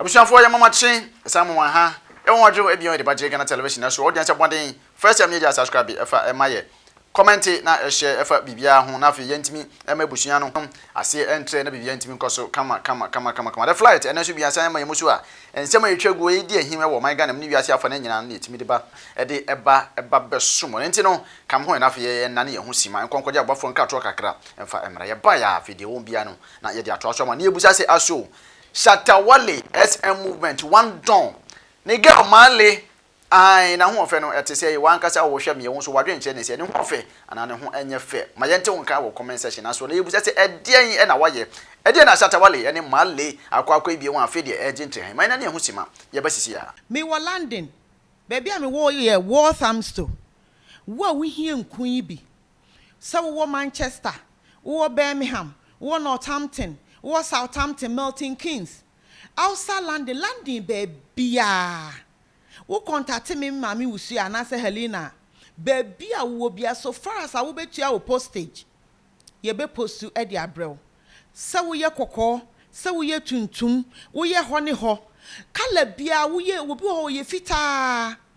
Abusuafoɔ yɛ mama kye ɛsan mo wɔn ha yɛ wɔn adwo ɛbion ɛde ba gye Ghana television ɛso ɔdeɛn sɛ bɔden first time yɛgya subscribe ɛfa ɛma yɛ kɔmɛnte na ɛhyɛ ɛfa biribiara ho na afei yɛntumi ɛma abusua no aseɛ ɛntrɛ na biribiara ntumi nkɔso kama kama kama kama kama the flight ɛnɛ nso biasan ɛma yɛ musu a nsɛm a ɛtwa guo ɛdi ahim ɛwɔ ɔman Ghana mu ne wiase afa no nyinaa no na yɛtumi de ba ɛde ɛba ɛba bɛso mo ɛnti no come home na afei yɛ ɛnane yɛ ho si ma ɛnkɔ nkɔgye aboafoɔ nka toɔ kakra ɛmfa ɛmra yɛ baeɛ a afei deɛ ɛwɔ mu biara no na yɛde atoa so ama ne yɛbusa sɛ aso Shatta Wale SM movement one dɔn ne girl Marley ae n'ahoɔfɛ no ɛte sɛɛ wɔ ankasa oo hwɛ meɛ wo nso w'adwene nkyerɛ ne sɛ ne ho ɔfɛ anaa ne ho ɛnyɛ fɛ ma yɛnte wo nka wɔ comment section asoɔ na yɛbusa sɛ ɛdeɛn ɛna wayɛ ɛdeɛn na Shatta Wale ɛne Marley akɔ akɔ abie wɔn afei deɛ ɛregye ntrɛhɛn ma yɛn ani ɛho sima yɛba sisi a. Me wɔ London, baabi a me wɔ yɛ Walthamstow, wo a wo hia nku yi bi Sɛ wowɔ Manchester, wowɔ Birmingham, wowɔ Northampton, wowɔ Southampton, Milton Keynes, outside London, London baabiaa, wo kɔntate me Maame Wusua anaasɛ Helena a, baabi a wowɔ biaa, so far as a wobɛtua wo postage, yɛbɛ postu de abrɛ wo. Sɛ woyɛ kɔkɔɔ, sɛ woyɛ tuntum, woyɛ hɔ ne hɔ, colour biaa, woyɛ, obi wɔ hɔ ɔyɛ fitaa,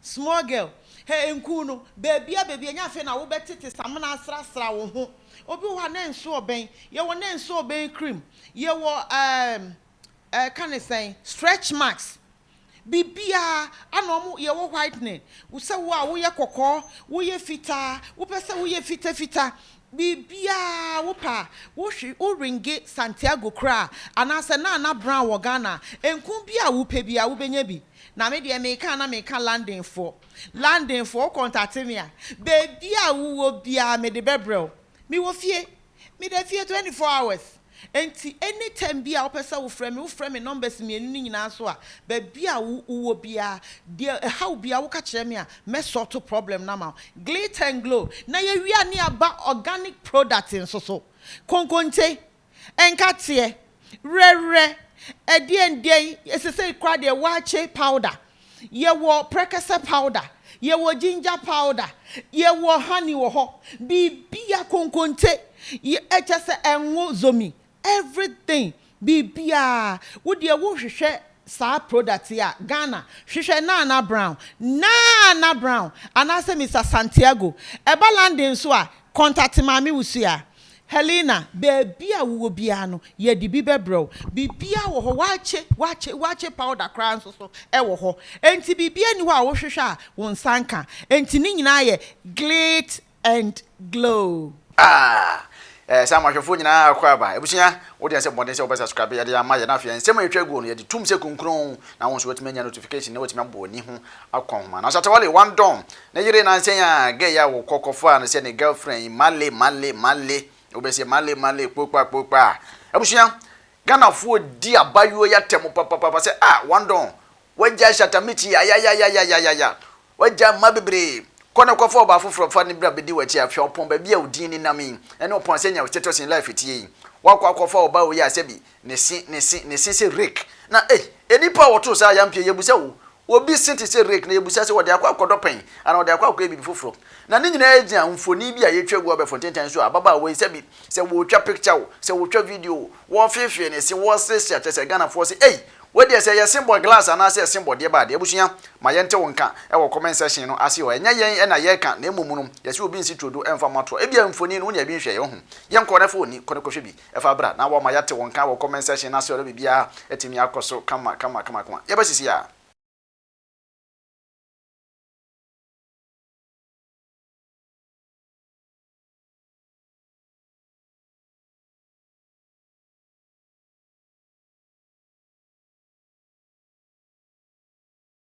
Small girl, hɛ nkuu no, baabia baabia nyɛ afei na wobɛ tete samena asra sra wo ho, obi wɔ hɔ a na nso ɔbɛn, yɛ wɔ na nso ɔbɛn cream, yɛ wɔ ehm eh ka ne sɛn, stretch marks, biribiaa, ana ɔmo, yɛ wɔ whitening, sɛ wo a wo yɛ kɔkɔɔ, wo yɛ fitaa, wo pɛ sɛ wo yɛ fita fita, Biribiara a wopɛ a, wohwe, wo ringe, Santiago koraa, anaasɛ Nana Brown wɔ Ghana a, nku bi a wopɛ biara wobɛnya bi. Na me deɛ meka a na meka Londonfoɔ. Londonfoɔ, wo kɔntate me a, baabiara a wowɔ biara mede bɛbrɛ wo. Mewɔ fie. Meda fie twenty four hours. Enti anytime biaa wopɛ sɛ wofrɛ me, wofrɛ me numbers mmienu no nyinaa so a, baabi a wo wowɔ biaa, deɛ ɛhaw biaa woka kyerɛ me a, mɛ sort problem no ama wo. Glit and Glow, na yɛwie a ne yɛaba organic product nso so. Konkonte, nkateɛ, werɛwerɛ, ɛdeɛn deɛn, sesei koraa deɛ waakye powder. Yɛwɔ prɛkɛsɛ powder, yɛwɔ ginger powder, yɛwɔ honey wɔ hɔ, biribiara, konkonte, kyerɛ sɛ ngo, zomi, everything, biribiara. Wo deɛ wohwehwɛ saa product yi a, Ghana, hwehwɛ Nana Brown, Nana Brown, anaasɛ Mister Santiago. Ɛba London nso a, contact Maame Wusu a. Helena, Baabi a wowɔ biara no, yɛde bi bɛbrɛ wo. Biribiara wɔ hɔ, wɔakye, wɔakye, wɔakye powder koraa nso so wɔ hɔ. Enti biribiara nni hɔ a wohwehwɛ a wo nsa nka. Enti ne nyinaa yɛ glit and glow. Aah! Ɛɛ, saa mmoahwɛfoɔ nyinaa akɔ aba. Abusua, wo deɛ ɛnsɛ mmɔden sɛ wobɛ subscribe, yɛde ama yɛ. Na afei nsɛm a ɛtwa aguo no, yɛgye tom sɛ kunkron. Na wo nso woatumi anya notification na woatumi abɔ w'ani ho akɔ nhoma no. Asatawale, Wandong, Ne yere nansa yi a gay a wokɔ kɔfaa no sɛ ne girlfriend yi male male male wobɛsɛ male male kpokpa kpokpa abusua Ghanafoɔ di abayewa yi atɛm papapapa sɛ ah wandon wagyae shatamichi ayayayayayaya wagyae mma bebree kɔ na kɔfa ɔbaa foforɔ fa no bra bɛdi w'akyi afei ɔpɔn baabi a wo din nenam yi ɛne ɔpɔn sɛnea wo status in life tie yi woakɔ akɔfa ɔbaa wei a sɛbi Ne se, ne se, ne se sɛ rake. Na ei, nnipa a wɔtoo saa ayampi yi, yɛabusa wo, obi se te sɛ rake, na yɛbusa sɛ, ɔde akɔ akɔdɔ pɛn? Anaa ɔde akɔ akɔyɛ biribi foforɔ? Na ne nyinaa gyina mfonin bi a yɛatwa agu abɛɛfo ntentan so a ababaawa yi, sɛbi, sɛ wɔretwa picture o, sɛ wɔretwa video o, wɔrefeefee ne se, wɔreseresere, akyerɛ sɛ Ghanafoɔ se, ei, wei deɛ, sɛ ɛyɛ se bɔ glass anaasɛ ɛyɛ se bɔ deɛ baa deɛ. Abusua, ma yɛnte wo nka wɔ comment section no ase hɔ. Ɛnyɛ yɛn na yɛreka, na mmom no, yɛse obi nsi turodo mfa mmɔ atoa. Ebia mfonin no, wo nya bi nhwɛeɛ, wohu? Yɛnkɔ, na fa w'ani kɔ na kɔhwɛ bi. Ɛfa bra na wɔma yɛate wo nka wɔ comment section no ase ɔdɔ biribiara atumi akɔ so kama kama kama kama yɛba sisi a.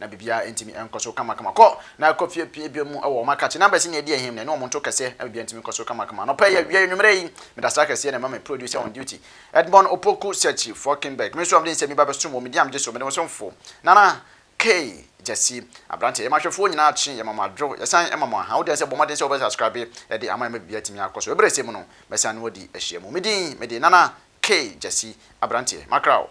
Na biribiara ntumi nkɔ so kamakama. Kɔ na kɔ fie pue bio mu wɔ wɔn akakye. Numbers nyɛ di ahim na ɛne wɔn nto kɛseɛ na biribiara ntumi nkɔ so kamakama. Anɔpa yi awiei anwummerɛ yi, meda asra kɛseɛ na ɛma me producer on duty, Edmond Opoku Searchy Falkenberg. Me nso a mede nsɛm yi ba bɛsom wɔn, me din a megye so, mede mo somfo, Nana K. Gyasi. Aberanteɛ, yɛma ahwɛfoɔ nyinaa kye, yɛma mo adwo, yɛsan ma mo aha. Wo deɛ nso bɔ mmɔden sɛ wobɛsubscribe de ama yɛn ma biribiara atumi akɔ so. Ɛberɛ sɛ mu no, mɛsan ne wo adi ahyiamu. Me din, mede Nana K. Gyasi. Aberanteɛ, makra wo.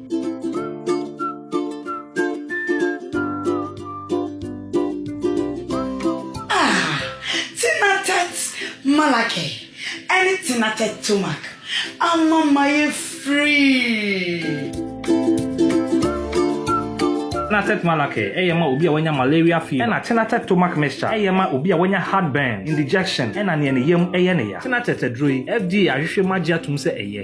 Malaki ɛne tenatɛ tomak ama ma yɛ free. Tenatet Malaki ɛyɛ ma obi a wanya malaria fever ɛna Tenatet Tomac Mixture ɛyɛ ma obi a wanya heartburn, indigestion ɛna neɛ ne yam ɛyɛ ne ya. Tenatet aduro yi FDA ahwehwɛ mu agye atom sɛ ɛyɛ.